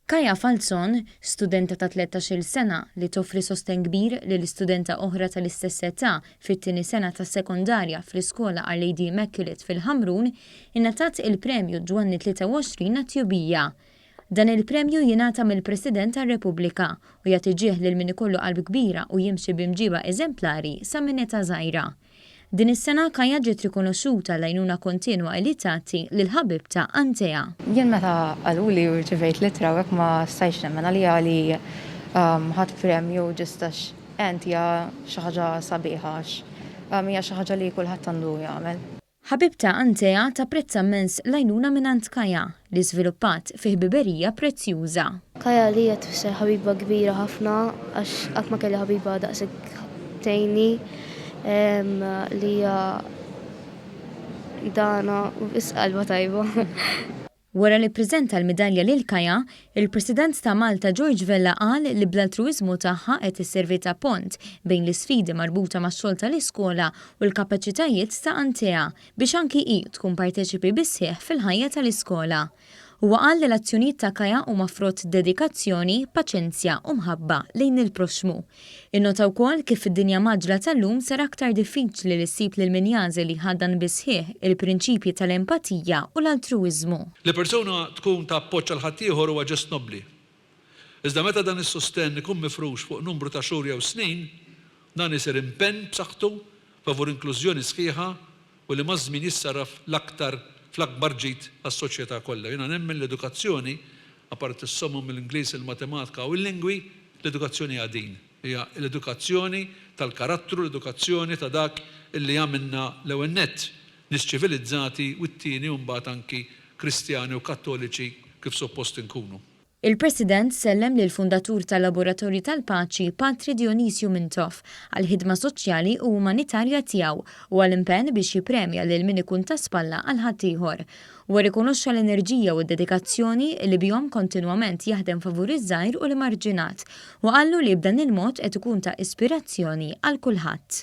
Kaja Falzon, studenta ta' tlettax-il sena li toffri sostenn kbir lil studenta oħra tal-istess età fit-tieni sena tas-sekondarja fl-iskola Our Lady Immaculate fil-Ħamrun, ingħatat il-Premju Ġwanni 23 għat-Tjubija. Dan il-premju jingħata mill-President tar-Repubblika u jagħti ġieħ lil min ikollu qalb kbira u jimxi b'imġieba eżemplari sa minn età żgħira. Din is-sena Kaja ġiet rikonoxxuta għall-għajnuna kontinwa li tagħti lill-ħabibtha Antea. Jien meta qaluli u rċivejt l-ittra u hekk ma stajtx nemmen għaliha li ħadt premju ġust għax għent hija xi ħaġa sabiħa għax hija xi ħaġa li kulħadd għandu jagħmel. Ħabibta Antea tapprezza mmens l-għajnuna mingħand Kaja, li żviluppat fi ħbiberija prezzjuża. Kaja għalija tfisser ħabiba kbira ħafna għax qatt ma kelli ħabiba daqshekk tgħinni li hija dana u biss qalbha tajba. Wara li ppreżenta l-midalja lil Kaya, il-President ta' Malta George Vella qal li bl-altruwiżmu tagħha qed isservi ta' pont bejn l-isfidi marbuta max-xogħol tal-iskola u l-kapaċitajiet ta' Antea biex anki hi tkun parteċipi bis-sħiħ fil-ħajja tal-iskola. Huwa qal li l-azzjonijiet ta' Kaya huma frott dedikazzjoni, paċenzja u mħabba lejn il-proxxmu. Innota wkoll kif fid-dinja mgħaġġla tal-lum sar aktar diffiċli li ssib lil min jagħżel li jħaddan bis-sħiħ il-prinċipji tal-empatija u l-altruwiżmu. Li persuna tkun ta' appoġġ għal ħaddieħor huwa ġest nobbli. Iżda meta dan is-sostenn ikun mifrux fuq numru ta' xhur jew snin, dan isir impenn b'saħħtu favur inklużjoni sħiħa u li maż-żmien jissarraf l-aktar fl-akbar ġid għas-soċjetà kollha. Jiena nemmen li edukazzjoni, apparti s-somom mill-Ingliż, il-Matematika u l-Lingwi, l-edukazzjoni hija din, hija l-edukazzjoni tal-karattru, l-edukazzjoni ta' dak li jagħmilna l-ewwel nett nies ċivilizzati u t-tieni u mbagħad anki Kristjani u Kattoliċi kif suppost inkunu. Il-President sellem lill-fundatur tal-Laboratorju tal-Paċi, Patri Dionisio Mintoff, għall-ħidma soċjali u umanitarja tiegħu u għall-impenn biex jippremja lil min ikun ta' spalla għal ħaddieħor. Huwa rrikonoxxa l-enerġija u d-dedikazzjoni li bihom kontinwament jaħdem favur iż-żgħir u l-emarġinat u qallu li b'dan il-mod qed ikun ta' ispirazzjoni għal kulħadd.